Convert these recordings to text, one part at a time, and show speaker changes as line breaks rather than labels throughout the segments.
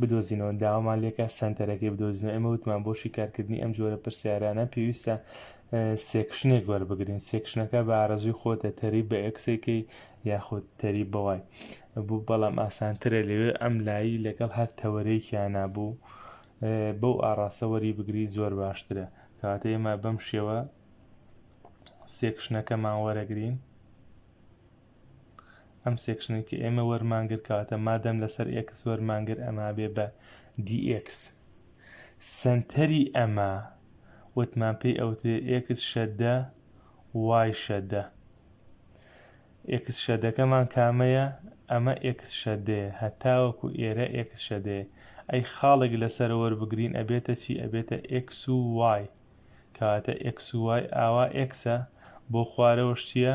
بدۆزینەوە داوامان لێکا سەنتەرەکەی بدۆزینەوە ئێمە وتمان بۆ شیکارکردنی ئەم جۆرە پرسیارانە پێویستە سێکشنێک وەربگرین سێکشنەکە بە ئارەزوی خۆتە تەریب بە ئەکسێکی یاخود تەریب بەوای بوو بەڵام ئاسانترە لەوێ ئەم لایی لەگەڵ هەر تەوەرەیەکیان نبوو بەو ئاڕاستە وەری بگری زۆر باشترە کەواتە ئێمە بەم شێوە سێکشنەکەمان وەرەگرین ئەم سێکشنەی کە ئێمە وەرمان گر کەواتە مادەم لەسەر ئێکس وەرمان گر ئەما بێ بە DX سەنتەری ئەمە وتمان پێی ئەوترێ ئێکس شەدە وای شەدە ئێکس شەدەکەمان کامەیە ئەمە ئێکس شەدەیە هەتاوەکو ئێرە ئێکس شەدەیە ئەی خاڵێک لەسەر وەربگرین ئەبێتە چی ئەبێتە ئێکس و وای کەواتە ئێکس و وای ئاوا ئێکسە بۆ خوارەوە شتیە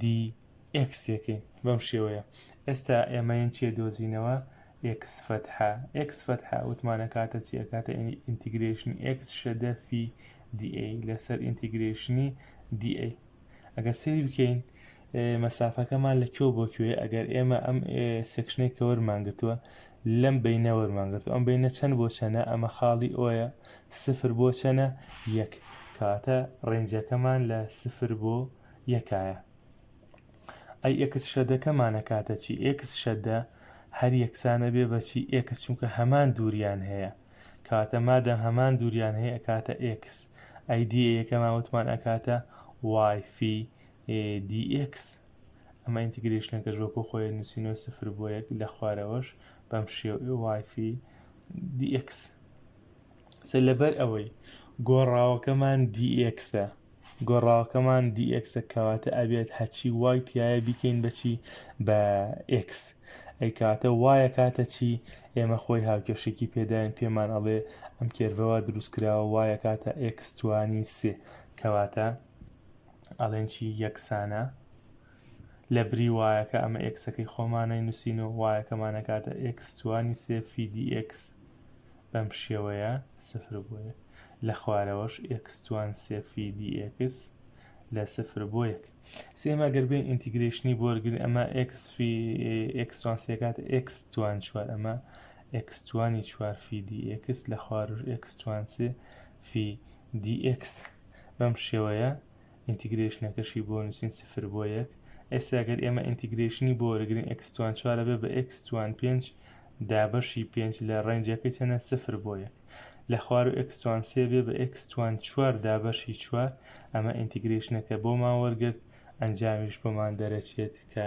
دی ئێکس یەکەین بەم شێوەیە ئێستا ئێمەین چیە دۆزینەوە ئێکس فەتحە ئێکس فەتحە وتمانە کاتە چی ئەکاتە ئینتیگرێشنی ئێکس شەدە فی دی ئەی لەسەر ئینتیگرێشنی دی ئەی ئەگەر سری بکەین مەسافەکەمان لە کێو بۆ کوێ ئەگەر ئێمە ئەم سێکشنەی کە وەرمانگرتووە لەم بینە وەرمانگرتو ئەم بینە چەند بۆ چەنە ئەمە خاڵی ئۆیە سفر بۆ چەنە یەک کاتە ڕێنجەکەمان لە سفر بۆ یەکایە ئەی ئێکس شەدەکەمان ئەکاتە چی ئێکس شەدە هەر یەکسانە بێ بە چی ئێکس چونکە هەمان دووریان هەیە کاتە مادەم هەمان دووریان هەیە ئەکاتە ئێکس ئەی دی یەکەمان وتمان ئەکاتە وای فی دی ئێکس ئەمە ئینتیگرێشنەکەش وەکو خۆی نووسینەوە سفر بۆ یەک لە خوارەوەش بەم شێو وای فی دی ئێکس سەر لەبەر ئەوەی گۆڕاوەکەمان دیئکسە گۆڕاوەکەمان دیئکسە کەواتە ئەبێت هەچی وای تایە بیکەین بەچی بە ئکس ئەی کاتە وایە کاتە چی ئێمە خۆی هاوکێشێکی پێداین پێمان ئەڵێ ئەم کێرڤەوە دروستکراوە وایە کاتە ئکسستوانی سێ کەواتە ئەڵێن چی یەکسانە لە بری وایەکە ئەمە ئکسەکەی خۆمانەی نووسین و وایەکەمانەکاتە ئکسستوانی سێ فیدی ئکس بەم شێوەیە سفر بۆ یەک. لە خوارەوەش ئێکس توان سێ فی دی ئێکس لە سفر بۆ یەک. سێیەم ئەگەر بێین ئینتیگرەیشنی بۆ وەرگرین ئەمە ئێکس فی ئێکس توان سێ کاتە ئێکس توان چوار ئەمە ئێکس توانی چوار فی دی ئێکس لە خواروش ئێکس توان سێ فی دی ئێکس بەم شێوەیە ئینتیگرەیشنەکەشی بۆ نووسین سفر بۆ یەک ئێستا گەر ئێمە ئینتیگرەیشنی بۆ وەرگرین ئێکس توان چوارە بێ بە ئێکس توان پێنج دا بەشی پێنج لە ڕێنجەکەی چەنە سفر بۆ یەک لە خوارو ئێکس توان سێ بێ بە ئێکس توان چوار دا بەشی چوار ئەمە ئینتیگرەیشنەکە بۆمان وەرگرت ئەنجامیش بۆمان دەرەچێت کە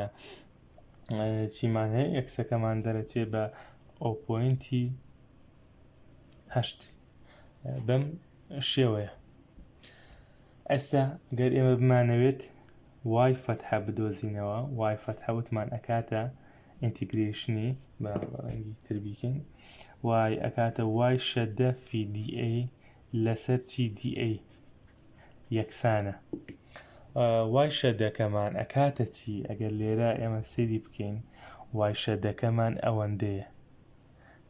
چیمان هەیە ئێکسەکەمان دەرەچێ بە ئەو پۆینتی هەشت بەم شێوەیە ئەستا گەر ئێمە بمانەوێت وای فەتحە بدۆزینەوە وای فەتحە وتمان ئەکاتە ئینتیگرێشنی بە ڕەنگی تر بیکەین وای ئەکاتە وای شەدە فی دی ئەی لەسەر چی دی ئەی یەکسانە وای شەدەکەمان ئەکاتە چی ئەگەر لێرە ئێمە سری بکەین وای شەدەکەمان ئەوەندەیە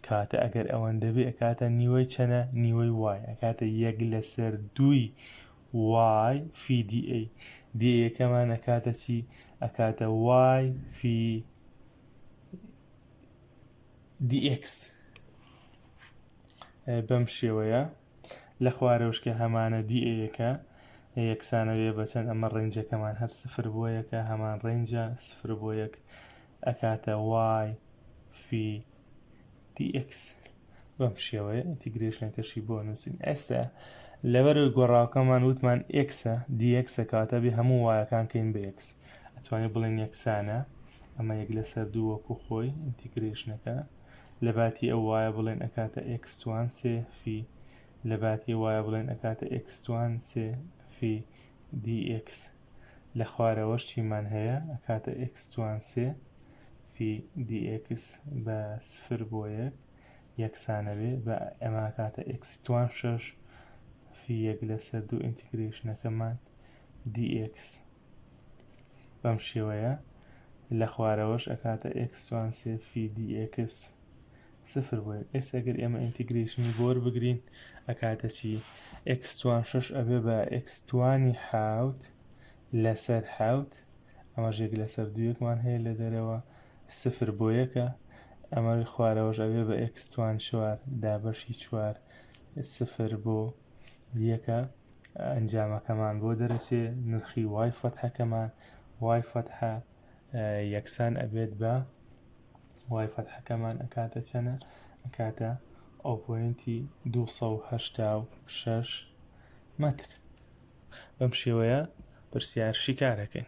کاتە ئەگەر ئەوەندەبێ ئەکاتە نیوەی چەنە نیوەی وای ئەکاتە یەک لەسەر دووی وای فی دی ئەی دی یەکەمان ئەکاتە چی ئەکاتە وای فی دی ئێکس بەم شێوەیە لە خوارەوشکە هەمانە دی ئەیەکە یەکسانە بێ بەچەند ئەمە ڕێنجەکەمان هەر سفر بۆ یەکە هەمان ڕێنجە سفر بۆ یەک ئەکاتە وای فی TX بەم شێوەیە ئینتیگرێشنەکەشی بۆ نووسین ئێستا لەبەرەوەی گۆڕاوکەمان وتمان ئێکسە دیەکسە کاتە بێ هەموو وایەکان کەین بە یەکس ئەتوانێت بڵێن یەکسانە ئەمە یەک لەسەر دوو وەکو خۆی ئینتیگرێشنەکە لە باتی ئەو وایە بڵێن ئەکاتە ئێکسوان سێ فی لە باتی وایە بڵێن ئەکاتە ئێکسوان سێ فی دیX لە خوارەوەش چیمان هەیە ئەکاتە ئێکس توان سێ فی دی ئێکس بە سفر بۆ یەک یەکسانە بێ بە ئەمە ئەکاتە ئێکسی توان شەش فی یەک لەسەر دوو ئینتیگرێشنەکەمان دی ئێکس بەم شێوەیە لە خوارەوەش ئەکاتە ئێکس توان سێ فی دی ئێکس سفر بۆ ئێکس ئەگەر ئێمە ئینتیگرەیشنی بۆ وەربگرین ئەکاتە چی؟ ئێکس توان شەش ئەبێ بە ئێکس توانی حەوت لەسەر حەوت ئەمەش یەک لەسەر دوویەکمان هەیە لە دەرەوە سفر بۆ یەکە ئەمە خوارەوەش ئەبێ بە ئێکس توان چوار دابەشی چوار سفر بۆ یەکە ئەنجامەکەمان بۆ دەرەچێ نرخی وای فەتحەکەمان وای فەتحە یەکسان ئەبێت بە وای فەتحەکەمان ئەکاتە چەنە ئەکاتە ئۆپۆینتی 286 مەتر بەم شێوەیە پرسیار شیکارەکەین